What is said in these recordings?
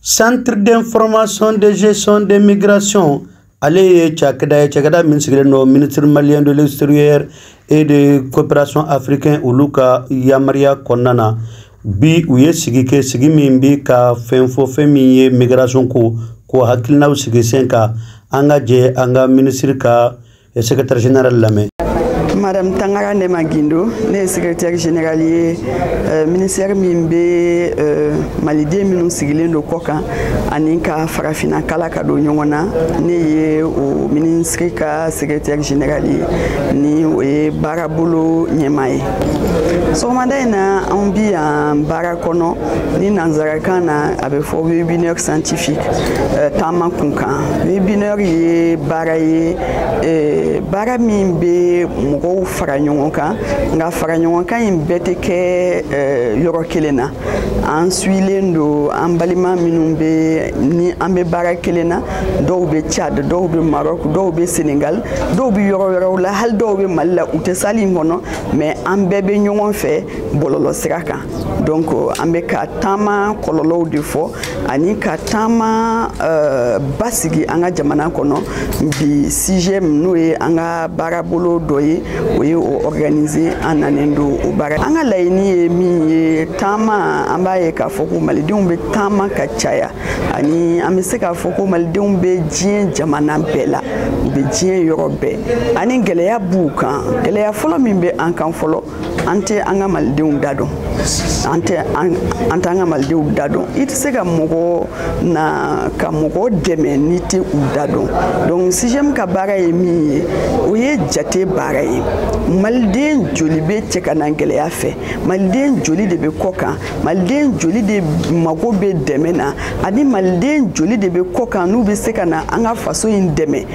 centre d'information de gestion des migrations ale ye cakɛda ye cakɛda min sigilen don ministre malien de l'extérieur et de coopération africain olu ka yamaruya kɔnɔna na bi u ye sigi kɛ sigi min bi ka fɛn fɔ fɛn min ye migration ko k'o hakilinaw sigi sen kan an ka jɛ an ka ministre ka secrétaire général lamɛn madame Tangara Néma Guindo ne ye secrétaire général ye euh, ministère min bɛ euh, maliden minnu sigilen don kɔ kan ani ka farafina kala ka don ɲɔgɔn na ne ye o ministre ka secrétaire général ye ni o ye baarabolo ɲɛmaa ye sɔgɔmada in na anw bi yan baara kɔnɔ ni nanzarakan na a bɛ fɔ webinaire scientifique euh, taama kunkan webinaire ye baara ye euh, baara min bɛ mɔgɔw fara ɲɔgɔn kan nka fara ɲɔgɔn kan in bɛɛ tɛ kɛ euh, yɔrɔ kelen na an sigilen don an balima minnu bɛ ni an bɛ baara kelen na dɔw bɛ Tchad dɔw bɛ Maroc dɔw bɛ Sénégal dɔw bɛ yɔrɔ wɛrɛw la hali dɔw bɛ Mali la u tɛ salle in kɔnɔ mais an bɛɛ bɛ ɲɔgɔn fɛ bɔlɔlɔ sira kan donc euh, an bɛ ka taama kɔlɔlɔw de fɔ ani ka taama euh, basigi an ka jamana kɔnɔ bi CIGEM n'o ye an ka baarabolo dɔ ye o ye o organise an nanen don o baara an ka laɲini ye min ye taama an b'a ye k'a fɔ ko malidenw bɛ taama ka caya ani an bɛ se k'a fɔ ko malidenw bɛ diɲɛ jamana bɛɛ la u bɛ diɲɛ yɔrɔ bɛɛ ani gɛlɛya b'u kan gɛlɛya fɔlɔ min bɛ an kan fɔlɔ an tɛ an ka malidenw da dɔn an tɛ an ka malidenw da dɔn i tɛ se ka mɔgɔ na ka mɔgɔ dɛmɛ n'i tɛ u da dɔn donc CIGEM ka baara ye min ye o ye jate baara ye maliden joli bɛ cɛ ka na gɛlɛya fɛ maliden joli de bɛ kɔ kan maliden joli de mago bɛ dɛmɛ na ani maliden joli de bɛ kɔ kan n'u bɛ se ka na an ka faso in dɛmɛ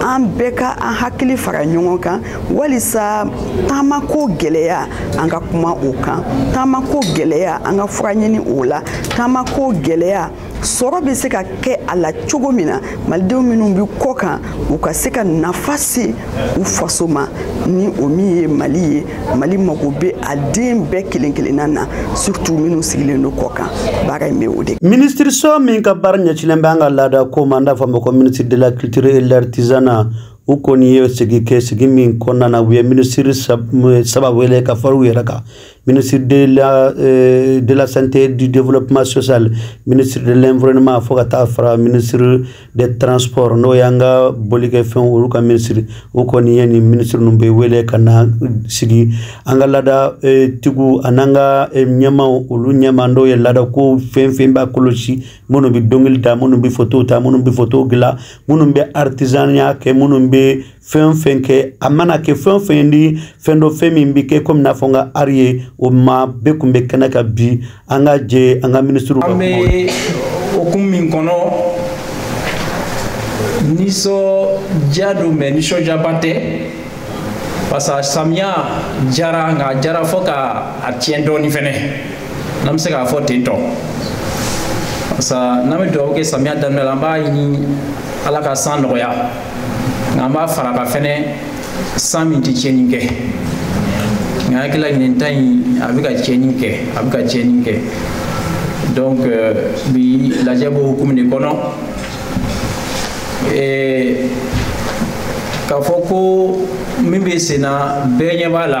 an bɛɛ ka an hakili fara ɲɔgɔn kan walisa taamako gɛlɛya an ka kuma o kan taamako gɛlɛya an ka fura ɲini o la taamako gɛlɛya sɔrɔ bɛ se ka kɛ a la cogo min na malidenw minnu bɛ kɔ kan u ka se ka nafa se u faso ma ni o min ye mali ye mali mago bɛ a den bɛɛ kelen kelenna na surtout minnu sigilen don kɔ kan baara in bɛ o de minisiriso min ka baara ɲɛcilen bɛ an ka laada ko ma an b'a fɔ a ma ko ministre de la culture et l'artisanat u kɔni ye sigi kɛ sigi min kɔnɔna na u ye minisiri saba wele ka fara u yɛrɛ kan ministre de la, euh, de la santé et du développement social ministre de l'environnement fo ka taa fara ministre des transports n'o y'an ka bolikɛfɛnw olu ka minisiri o kɔni ye nin minisiri ninnu bɛɛ wele ka na sigi an ka laada e, tigiw an'an ka e, ɲɛmaw olu ɲɛma n'o ye laada ko fɛn fɛn b'a kɔlɔsi minnu bɛ dɔnkili da minnu bɛ fotow ta minnu bɛ fotow dilan minnu bɛ artisanniya kɛ minnu bɛ fɛn o fɛn kɛ a mana kɛ fɛn o fɛn ni fɛn dɔ fɛn min bɛ kɛ komi n'a fɔ n ka ari ye o ma bɛɛ kun bɛ kɛnɛ kan bi an ka jɛ an ka minisiriw ka kuma. an bɛ hukumu min kɔnɔ nisɔndiya don mais nisɔndiyaba tɛ parce que samiya jara nka a jara fo ka a tiɲɛ dɔɔni fɛnɛ n'an bɛ se k'a fɔ ten tɔ parce que n'an bɛ dugawu kɛ samiya daminɛ la an b'a ɲini ala ka san nɔgɔya. nka an b'a fara kan fɛnɛ san min tɛ tiɲɛni kɛ nka n hakili la ɲinan ta in a bɛ ka tiɲɛni kɛ a bɛ ka tiɲɛni kɛ donc euh, bi lajɛ b'o hukumu de kɔnɔ k'a fɔ ko min bɛ sen na bɛɛ ɲɛ b'a la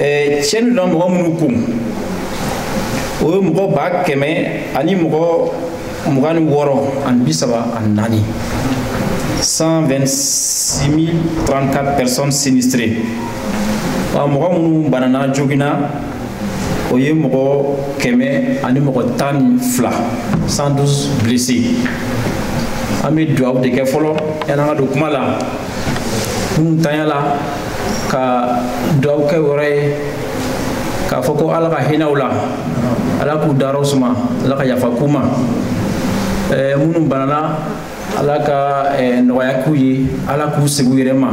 eh, tiɲɛni donna mɔgɔ minnu kun o ye mɔgɔ ba kɛmɛ ani mɔgɔ mugan ni wɔɔrɔ ani bi saba ani naani 126 034 personnes sinistrées wa mɔgɔ minnu banana joginna o ye mɔgɔ kɛmɛ ani mɔgɔ tan ni fila 112 blessés an bɛ dugawu de kɛ fɔlɔ yan'an ka don kuma la minnu tora a la ka dugawu kɛ olu ye k'a fɔ ko ala ka hinɛ u la ala k'u dayɔrɔw suma ala ka yafa k'u ma minnu banana ala ka nɔgɔya k'u ye ala k'u segin u yɛrɛ ma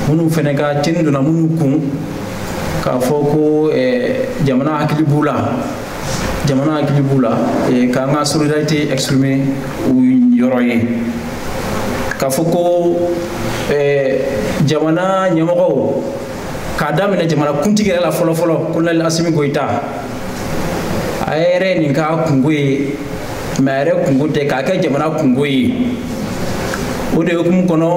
minnu fɛnɛ ka tiɲɛni donna minnu kun k'a fɔ ko jamana hakili b'u la jamana hakili b'u la k'an ka solidarité exprimer u yɔrɔ ye k'a fɔ ko jamana ɲɛmɔgɔw k'a daminɛ jamana kuntigi yɛrɛ la fɔlɔfɔlɔ kolonɛli asimi goyita a yɛrɛ nin k'a kunko ye mais a yɛrɛ kunko tɛ k'a kɛ jamana kunko ye o de hukumu kɔnɔ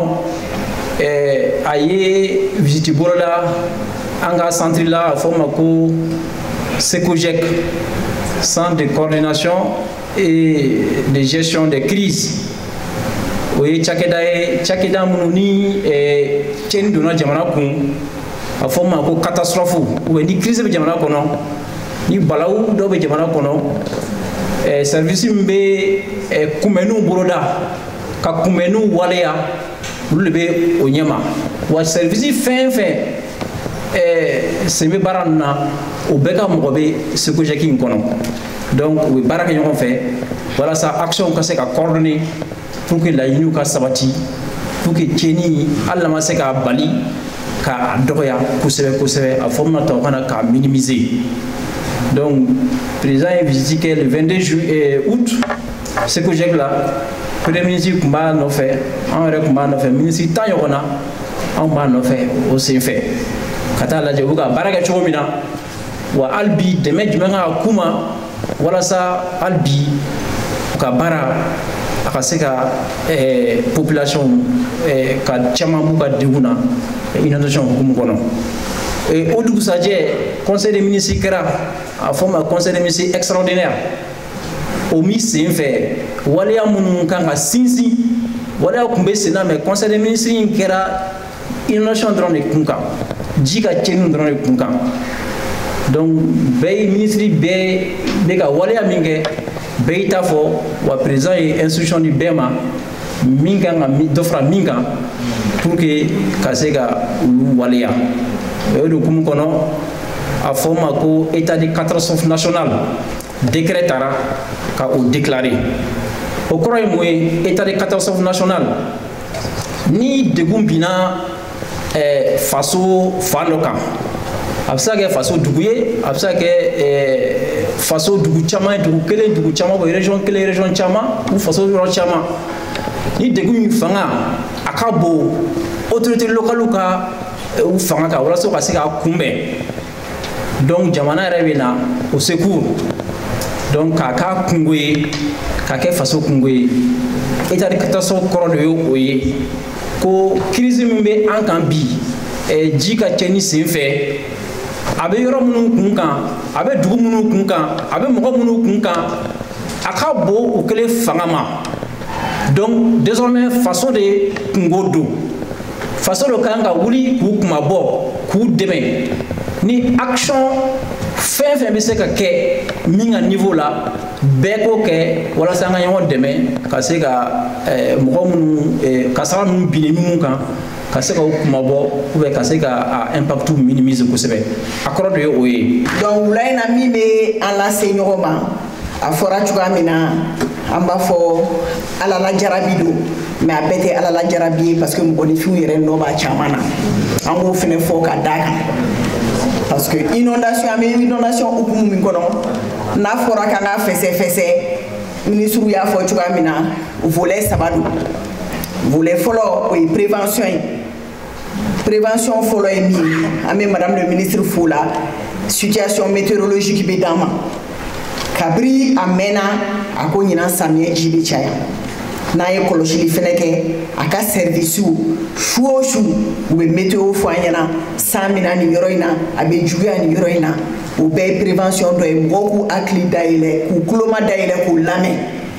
a ye visiti boloda an ka santiri la a fɔ ma ko cecogec centre de coordination et de gestion des crises o ye cakɛda ye cakɛda minnu ni tiɲɛni donna jamana kun a fɔ ma ko catastrophe ou bien ni crise bɛ jamana kɔnɔ ni balawu dɔ bɛ jamana kɔnɔ service min bɛ kunbɛnniw boloda ka kunbɛnniw waleya olu de bɛ o ɲɛma wa sɛrivisi fɛn fɛn ɛɛ sen bɛ baara ninnu na o bɛɛ ka mɔgɔ bɛ CECOGEC in kɔnɔ donc u bɛ baara kɛ ɲɔgɔn fɛ walasa action ka se ka coordonner pour que laɲiniw ka sabati pour que tiɲɛni hali n'a ma se k'a bali k'a dɔgɔya kosɛbɛ kosɛbɛ a fɔ min na tubabukan na k'a minimiser donc président ye visite kɛ le 22 ju eh, août CECOGEC la premier ministre tun b'a nɔfɛ an yɛrɛ tun b'a nɔfɛ minisiri tan ɲɔgɔn na anw b'a nɔfɛ o senfɛ ka taa lajɛ u bɛ ka baara kɛ cogo min na wa hali bi dɛmɛ jumɛn kan ka k'u ma walasa hali bi u ka baara a ka se ka eh, population eh, ka caman b'u ka degun na inondation hukumu kɔnɔ eh, o dugusajɛ conseil des ministres kɛra a fɔ ma conseil des ministres extraordinaire o min sen fɛ waleya minnu kan ka sinsin waleya tun bɛ sen na mais conseil des ministres in kɛra inondation dɔrɔn de kun kan ji ka tiɲɛni dɔrɔn de kun kan donc bɛɛ ye minisiri bɛɛ bɛ ka waleya min kɛ bɛɛ y'i ta fɔ wa président ye instruction di bɛɛ ma min kan ka dɔ fara min kan pour que ka se ka olu waleya o de hukumu kɔnɔ a fɔ o ma ko état de catastrophe nationale décret tara ka o déclarer o kɔrɔ ye mun ye état de catastrophe nationale ni degun binna eh, faso fan dɔ kan a bɛ se ka kɛ faso dugu ye a bɛ se ka kɛ eh, faso dugu caman ye dugu kelen dugu caman ou région kelen région caman ou faso yɔrɔ caman ni degun min fanga a ka bon autorité locale ka eh, u fanga kan walasa u ka se k'a kunbɛn donc jamana yɛrɛ bɛ na o secours donc k'a k'a kungo ye k'a kɛ faso kungo ye état de catastrophe kɔrɔ de ye o ye ko crise min bɛ an kan bi eh, ji ka cɛni sen fɛ a bɛ yɔrɔ minnu kun kan a bɛ dugu minnu kun kan a bɛ mɔgɔ minnu kun kan a ka bon u kelen fanga ma donc désormais faso de kungo don faso de kan ka wuli k'u kunmabɔ k'u dɛmɛ ni action fɛn fɛn bɛ se ka kɛ min ka niveau la bɛɛ k'o kɛ walasa an ka ɲɔgɔn dɛmɛ ka se ka eh, mɔgɔ minnu eh, kasara ninnu binna minnu kan ka se ka u kunmabɔ ou bien ka se ka a impact minimiser kosɛbɛ a kɔrɔ de ye o ye donc wula in na min bɛ an lase ɲɔgɔn ma a fɔra cogoya min na an b'a fɔ ala la jarabi don mais a bɛɛ tɛ ala la jarabi ye parce que mɔgɔninfinw yɛrɛ nɔ b'a caman na an b'o fɛnɛ fɔ ka da kan parce que inondation an bɛ inondation hukumu min kɔnɔ n'a fɔra k'an ka fɛsɛfɛsɛ minisiri y'a fɔ cogoya min na volet saba don volet fɔlɔ o ye prévention ye prévention fɔlɔ ye min ye an bɛ madame le ministre fo la situation météorologique bɛ d'an ma kabiri a mɛnna a ko ɲinan samiyɛ ji bɛ caya n'an ye kɔlɔsili fɛnɛ kɛ a ka sɛrivisiw su o su u bɛ météo fɔ an ɲɛna san bɛ na nin yɔrɔ in na a bɛ juguya nin yɔrɔ in na o bɛɛ ye prévention dɔ ye mɔgɔw k'u hakili dayɛlɛ k'u kuloma dayɛlɛ k'u lamɛn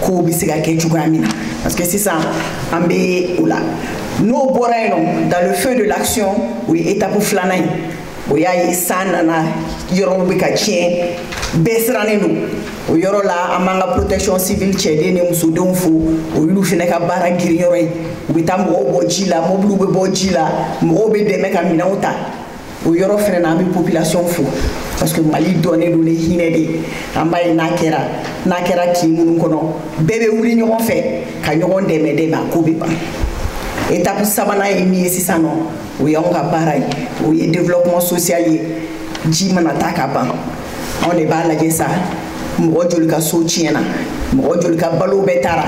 kow bɛ se ka kɛ cogoya min na parce que sisan an bɛ o la n'o bɔra yen nɔ dans le feu de l'action o ye étape filanan ye o y'a ye san nana yɔrɔw bɛ ka tiɲɛ bɛɛ sirannen don o yɔrɔ la an b'an ka protection civile cɛden ni musodenw fo o y'olu fɛnɛ ka baara girin yɔrɔ ye u bɛ taa mɔgɔw bɔ ji la mɔbiliw bɛ bɔ ji la mɔgɔw bɛ dɛmɛ ka minɛnw ta o yɔrɔ fɛnɛ na an bɛ population fo parce que mali dɔnnen don ni hinɛ de ye an b'a ye n'a kɛra n'a kɛra kin minnu kɔnɔ bɛɛ bɛ wuli ɲɔgɔn fɛ ka ɲɔgɔn dɛmɛ dɛmɛ a ko bɛ ban étape sabanan ye min ye sisan nɔ o y'anw ka baara ye o ye développement social ye ji mana taa ka ban anw de b'a lajɛ sa mɔgɔ joli ka so tiɲɛna mɔgɔ joli ka balo bɛɛ taara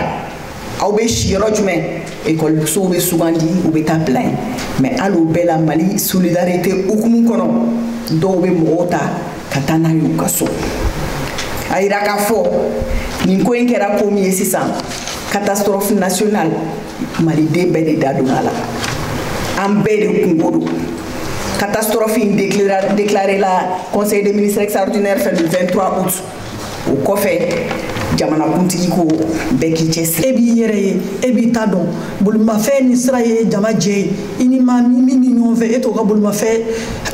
aw bɛ si yɔrɔ jumɛn ekɔlisow bɛ sugandi u bɛ taa bila yen mais hali o bɛɛ la mali solidarité hukumu kɔnɔ dɔw bɛ mɔgɔw ta ka taa n'a ye u ka so a yira k'a fɔ nin ko in kɛra ko min ye sisan catastrophe nationale maliden bɛɛ de da don a la an bɛɛ de kunko don catastrophe in déclaré la conseil des ministres extraordinaire fɛ le 23 août o kɔfɛ jamanakuntigi ko bɛɛ k'i cɛsiri e b'i yɛrɛ ye e b'i ta dɔn bolimafɛn ni sira ye jama jɛ ye i ni maa min ni ɲɔgɔn fɛ e t'o ka bolimafɛn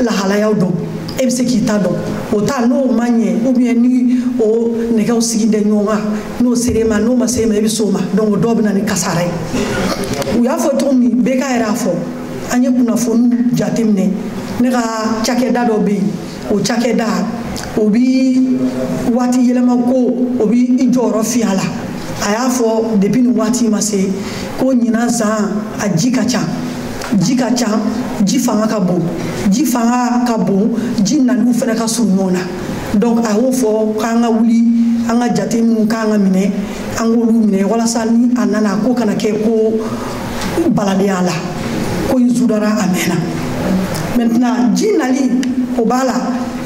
lahalayaw dɔn e bɛ se k'i ta dɔn o ta n'o ma ɲɛ ou bien ni o nɛgɛw sigi tɛ ɲɔgɔn kan n'o sera e ma n'o ma se e ma e bɛ s'o ma donc o dɔw bɛ na ni kasara ye u y'a fɔ cogo min bɛɛ ka yɛrɛ a fɔ an ye kunnafoniw jateminɛ ne ka cakɛda dɔ bɛ yen o cakɛda o bi waati yɛlɛma ko o bi i jɔyɔrɔ fiya la a y'a fɔ depuis nin waati ma se ko ɲinan san a ji ka ca ji ka ca ji fanga ka bon ji fanga ka bon ji naniw fana ka surun ɲɔgɔn na donc a y'o fɔ k'an ka wuli an ka jate minnu k'an ka minɛ an k'olu minɛ walasa ni a nana ko kana kɛ ko n balalen a la ko n zudara a mɛnna maintenant ji nali o b'a la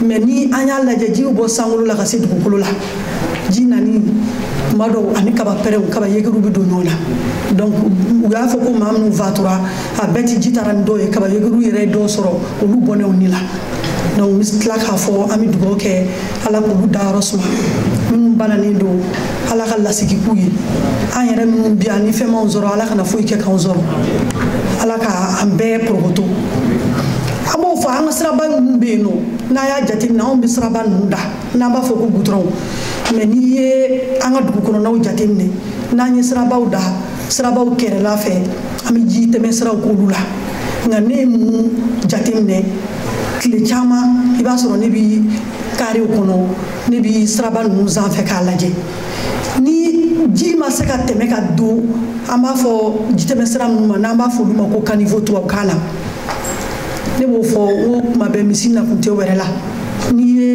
mais ni an y'a lajɛ ji bɛ bɔ sankolo la ka se dugukolo la ji nani tuma dɔw ani kaba pɛrɛnw kaba yegeruw bɛ don ɲɔgɔn na donc u y'a fɔ ko maa minnu fatura a bɛɛ ti ji taara ni dɔw ye kaba yegeruw yɛrɛ ye dɔw sɔrɔ olu bɔnɛ u ni la donc n bɛ tila k'a fɔ an bɛ dugawu kɛ ala k'olu dayɔrɔ suma minnu bananen don ala ka lasigi k'u ye an yɛrɛ minnu bi yan ni fɛn m'anw sɔrɔ ala kana foyi kɛ k'anw sɔrɔ ala ka an bɛɛ porokoto an b'o fɔ an ka siraba ninnu bɛ yen nɔ n'an y'a jateminɛ anw bɛ siraba ninnu da n'an b'a fɔ ko gudɔrɔnw mais n'i ye an ka dugu kɔnɔnaw jateminɛ n'an ye sirabaw da sirabaw kɛrɛla fɛ an bɛ ji tɛmɛ siraw k'olu la nka ne ye mun jateminɛ tile caman i b'a sɔrɔ ne bi karew kɔnɔ ne bi siraba ninnu sanfɛ k'a lajɛ ni ji ma se ka tɛmɛ ka don an b'a fɔ jitɛmɛ sira ninnu ma n'an b'a fɔ olu ma ko kanivo tubabukan na ne b'o fɔ n ko kuma bɛɛ misi nakun tɛ wɛrɛ la n'i ye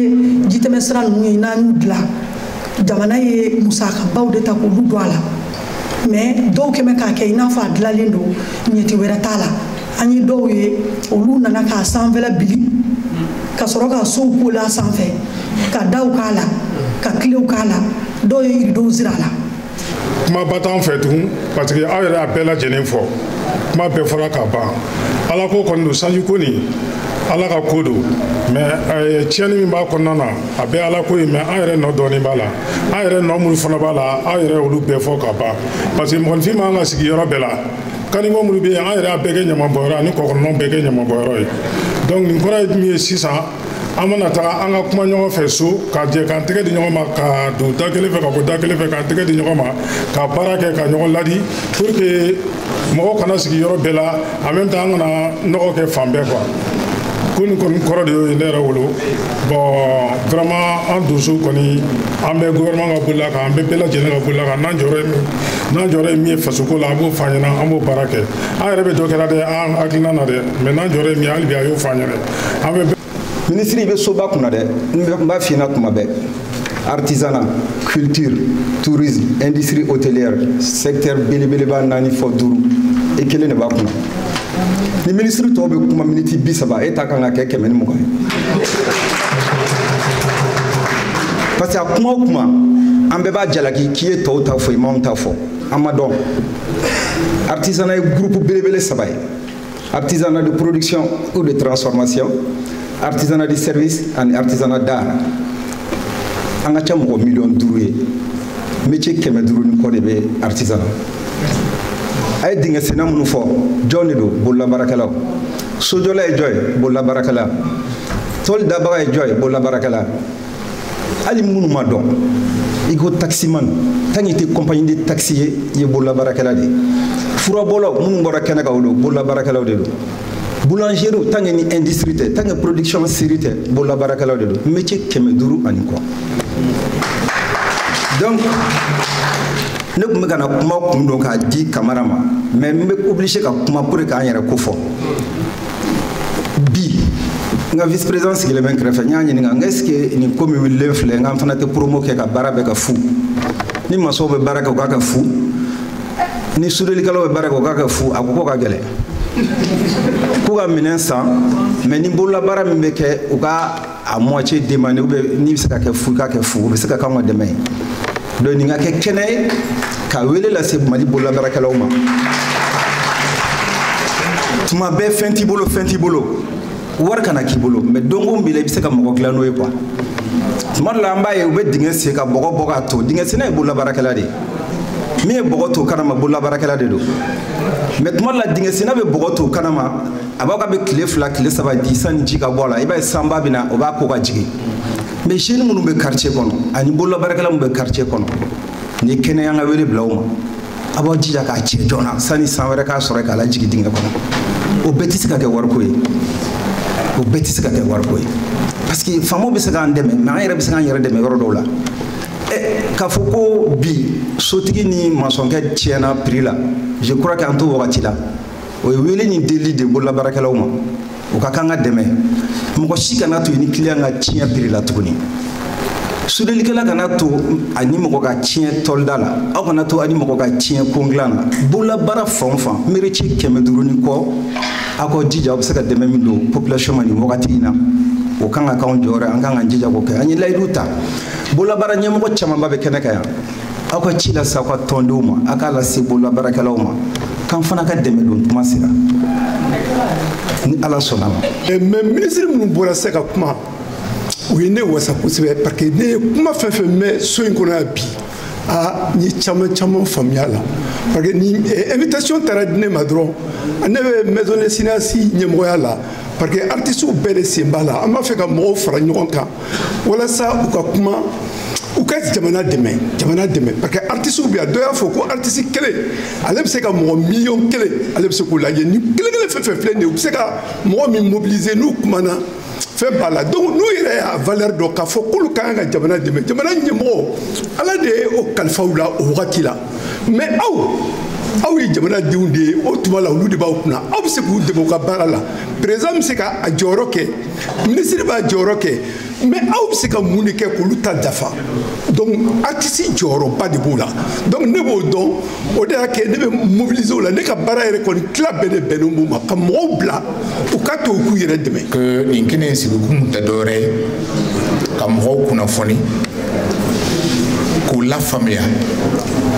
jitɛmɛ sira ninnu ye n'an y'u dilan jamana ye musakabaw de ta k'olu don a la mais dɔw kɛ bɛ k'a kɛ i n'a fɔ a dilanlen don ɲɛci wɛrɛ t'a la an ye dɔw ye olu nana k'a sanfɛla bili ka sɔrɔ ka sow k'o la sanfɛ ka daw k'a la ka kilew k'a la dɔw ye ridow siri a la kumaba t'an fɛ tugun parce que aw yɛrɛ y'a bɛɛ lajɛlen fɔ kuma bɛɛ fɔra ka ban ala ko kɔni don sanji ko nin ala ka ko don mais tiɲɛni min b'a kɔnɔna na a bɛɛ ala ko ye mais an yɛrɛ nɔ dɔɔnin b'a la an yɛrɛ nɔ minnu fana b'a la aw yɛrɛ y'olu bɛɛ fɔ ka ban parce que mɔgɔninfin man kan ka sigi yɔrɔ bɛɛ la kanivo minnu bɛ yen an yɛrɛ y'a bɛɛ kɛ ɲamabɔyɔrɔ ani kɔkɔnɔnaw bɛɛ kɛ ɲamabɔyɔrɔ ye donc nin kɔrɔ ye min ye sisan an mana taga an ka kuma ɲɔgɔn fɛ so ka jɛ k'an tɛgɛ di ɲɔgɔn ma ka don da kelen fɛ ka bɔ da kelen fɛ k'an tɛgɛ di ɲɔgɔn ma ka baara kɛ ka ɲɔgɔn ladi pour que mɔgɔ kana sigi yɔrɔ bɛɛ la en même temps an kana nɔgɔ kɛ fan bɛɛ quoi ko nin kɔni kɔrɔ de y'o ye ne yɛrɛ bolo bɔn vraiment an donso kɔni an bɛ gouvernement ka bolila kan an bɛ bɛɛ lajɛlen ka bolila kan n'an jɔyɔrɔ ye min ye fasoko la a b'o fɔ an ɲɛna an b'o baara kɛ an yɛrɛ bɛ dɔ kɛra dɛ an hakilina na dɛ mais n'an jɔyɔrɔ ye min ye hali bi a y'o fɔ an ɲɛna an bɛ minisiri i bɛ soba kunna dɛ n b'a f'i ɲɛna tuma bɛɛ artisanat culture tourisme industrie hôtelière secteur belebeleba naani fɔ duuru i kelen de b'a kunna ni minisiri tɔw bɛ kuma miniti bi saba e ta kan ka kɛ kɛmɛ ni mugan ye parce que a kuma o kuma an bɛɛ b'a jalaki k'i ye tɔw ta fɔ i m'anw ta fɔ an m'a dɔn artisanat ye groupe belebele saba ye artisanat de production ou de transformation artisanat de service ani artisanat d'art an ka ca mɔgɔ miliyɔn duuru ye métier kɛmɛ duuru ni kɔ de bɛ artisanat a ye dingɛ senna minnu fɔ jɔn de don bololabaarakɛlaw sojɔla ye jɔn ye bololabaarakɛla tɔli dabaga ye jɔn ye bololabaarakɛla hali minnu ma dɔn i ko taximan tant que i tɛ compagnie de taxi ye i ye bololabaarakɛla de ye furabɔlaw minnu bɔra kɛnɛ kan o don bololabaarakɛlaw de don boulangerie tant que ni industrie tɛ tant que production série tɛ bololabaarakɛlaw de don métier kɛmɛ duuru ani kɔ donc ne kun bɛ ka na kuma kun don k'a di kamara ma mais n bɛ obligé ka kuma pour que k'an yɛrɛ ko fɔ bi n ka vice président sigilen bɛ n kɛrɛfɛ n y'a ɲininka n ko est ce que nin ko min wulilen filɛ n k'an fana tɛ promo kɛ ka baara bɛɛ ka fu ni masɔnw bɛ baara kɛ u k'a kɛ fu ni sudelikɛlaw bɛ baara kɛ u k'a kɛ fu a ko k'o ka gɛlɛn k'u ka minɛn san mais ni bololabaara min bɛ kɛ u ka a moitié demander ou bien n'i bɛ se ka kɛ fu i k'a kɛ fu o bɛ se ka k'anw ka dɛmɛ ye donc nin ka kɛ kɛnɛ ye ka wele lase mali bololabaarakɛlaw ma tuma bɛɛ fɛn t'i bolo fɛn t'i bolo wari kana k'i bolo mais dɔnko b'i la i bɛ se ka mɔgɔ dilan n'o ye quoi tuma dɔ la an b'a ye u bɛ dingɛ sen ka bɔgɔ bɔ k'a to dingɛ senna ye bololabaarakɛla de ye min ye bɔgɔ to kɛnɛma bololabaarakɛla de don mais tuma dɔ la dingɛ senna bɛ bɔgɔ to kɛnɛma a b'a ka bɛ tile fila tile saba di sanni ji ka bɔ a la i b'a ye sanba bɛ na o b'a ko ka jigin mais jeunes minnu bɛ quartier kɔnɔ ani bololabaarakɛla minnu bɛ quartier kɔnɔ nin ye kɛnɛ ye an ka wele bila u ma a b'aw jija k'a cɛ joona sanni san wɛrɛ k'a sɔrɔ k'a lajigin dingɛ kɔnɔ o bɛɛ tɛ se ka kɛ wariko ye o bɛɛ tɛ se ka kɛ wariko ye parce que faamaw bɛ se k'an dɛmɛ mais an yɛrɛ bɛ se k'an yɛrɛ dɛmɛ yɔrɔ dɔw la k'a fɔ ko bi sotigi ni masɔnkɛ tiɲɛna prix la je crois que an t'o wagati la o ye wele ni deli de bololabaarakɛlaw ma o ka k'an ka dɛmɛ mɔgɔ si kana to i ni client ka tiɲɛ prix la tuguni sudelikɛla kana to a ni mɔgɔ ka tiɲɛ tɔlida la aw kana to a ni mɔgɔ ka tiɲɛ kon dilan na bololabaara fan o fan métier kɛmɛ duuru ni kɔ aw ka jija aw bɛ se ka dɛmɛ min don population ma nin wagati in na o kan ka k'anw jɔyɔrɔ ye an kan ka jija k'o kɛ an ye layidu ta bololabaara ɲɛmɔgɔ camanba bɛ kɛnɛ kan yan aw ka ci lase aw ka tɔndenw ma aw k'a lase bololabaarakɛlaw ma k'an fana ka dɛmɛ don tuma sera ni ala sɔnn'a ma eh, mais minisiri minnu bɔra se ka kuma u ye ne wasa kosɛbɛ parce que ne ye kuma fɛn fɛn mɛn so in kɔnɔ yan bi aa n ye caman caman faamuya la parce que ni eh, invitation taara di ne ma dɔrɔn ne bɛ maison des cinéastes ɲɛmɔgɔya la parce que artistew bɛɛ de sen b'a la an b'a fɛ ka mɔgɔw fara ɲɔgɔn kan walasa u ka kuma u ka jamana dɛmɛ jamana dɛmɛ parce que artisiw bɛ yan dɔ y'a fɔ ko artisi kelen ale bɛ se ka mɔgɔ miliyɔn kelen ale bɛ se k'o lajɛ ni kelen kelen fɛn fɛn filɛ nin ye u bɛ se ka mɔgɔ min mobiliser n'u kumana fɛn b'a la donc n'u yɛrɛ y'a valeur dɔn k'a fɔ k'olu ka kan ka jamana dɛmɛ jamana ɲɛmɔgɔ ala de ye o kalifa u la o wagati la mais aw aw ye jamanadenw de ye o tuma la olu de b'aw kunna aw bɛ se k'u dɛmɛ u ka baara la président bɛ se ka a jɔyɔrɔ kɛ minisiri b'a jɔyɔrɔ kɛ mais aw bɛ se ka mun de kɛ k'olu ta dafa donc artisi jɔyɔrɔba de b'o la donc ne b'o dɔn o de y'a kɛ ne bɛ mobiliser o la ne ka baara yɛrɛ kɔni tila bɛɛ de bɛnnen b'o ma ka mɔgɔw bila u ka to u k'u yɛrɛ dɛmɛ. que nin kɛnɛ in sigikun tɛ dɔwɛrɛ ye ka mɔgɔw kunnafoni. k'u lafaamuya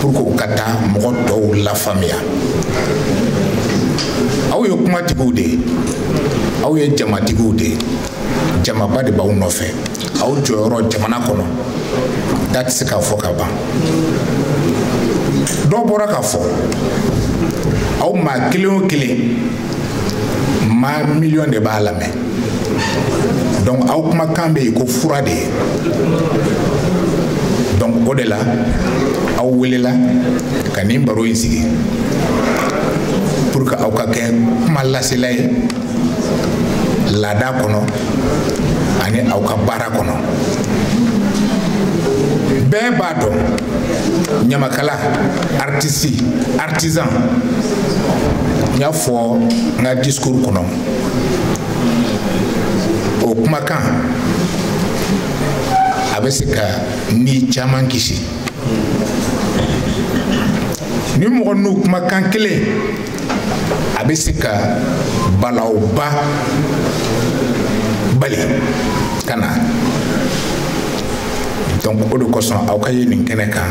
pour que u ka taa mɔgɔ tɔw lafaamuya aw ye kumatigiw de ye aw ye jamatigiw de ye jamaba de b'aw nɔfɛ aw jɔyɔrɔ jamana kɔnɔ da tɛ se k'a fɔ ka ban dɔ bɔra k'a fɔ aw maa kelen o kelen maa miliyɔn de b'a lamɛn donc aw kumakan bɛ i ko fura de ye donc o de la aw welela ka nin baro in sigi pour que aw ka kɛ kuma lasela ye laada kɔnɔ ani aw ka baara kɔnɔ bɛɛ b'a dɔn ɲamakala artiste artisan n y'a fɔ n ka discours kɔnɔ o kumakan a bɛ se ka ni caman kisi ni mɔgɔ n'u kumakan kelen a bɛ se ka balawba bali ka na donc o de kosɔn aw ka ye nin kɛnɛ kan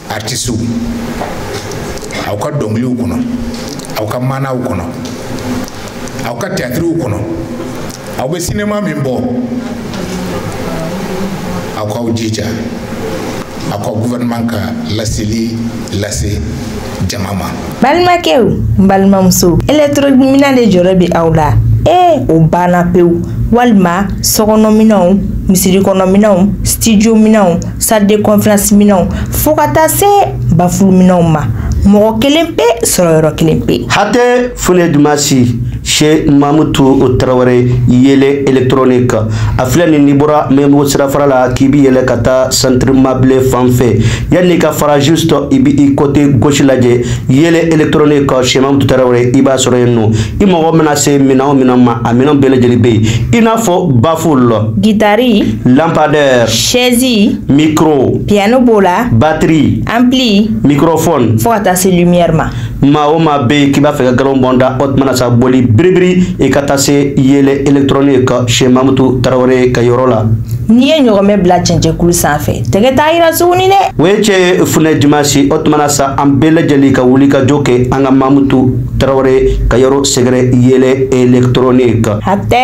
artisiw aw ka dɔnkiliw kɔnɔ aw ka maanaw kɔnɔ aw ka tiyatiriw kɔnɔ aw bɛ sinema min bɔ aw k'aw jija aw ka gouvernement ka laseli lase jama ma balimakɛw n balimamuso électronique minɛn de jɔrɔ bɛ aw la ee o banna pewu walima sokɔnɔminɛnw misirikɔnɔminɛnw studiominɛnw salle de conférence minɛnw fo ka taa se bafuluminɛnw ma mɔgɔ kelen pe sɔrɔ yɔrɔ kelen pe hatɛ funɛ dumasi chez mamutu tarawele yele électronique a filɛ nin n'i bɔra maɲanbugu sirafara la k'i bi yɛlɛ ka taa centre mabile fan fɛ yanni ka fara juste i bi i côté gauche lajɛ yele électronique chez mamutu tarawele i b'a sɔrɔ yen nɔ i mago mana se minɛn o minɛn ma a minɛn bɛɛ lajɛlen bɛ yen i n'a fɔ baffle gitari lampadaire chaise micro piano b'o la batterie ampli microphone fo ka taa se lumière ma maa o maa bɛ yen k'i b'a fɛ ka galon bɔn da o tuma na sa boli biribiri i ka taa se yele électronique chez mamutu tarawele ka yɔrɔ la n'i ye ɲɔgɔnmɛ bila cɛncɛnkulu sanfɛ tɛgɛ t'a yira tuguni dɛ o ye cɛn ye funɛ dimasi o tuma na sa an bɛɛ lajɛlen ka wuli ka jɔ kɛ an ka mamutu tarawele ka yɔrɔ sɛgɛrɛ yele électronique hatɛ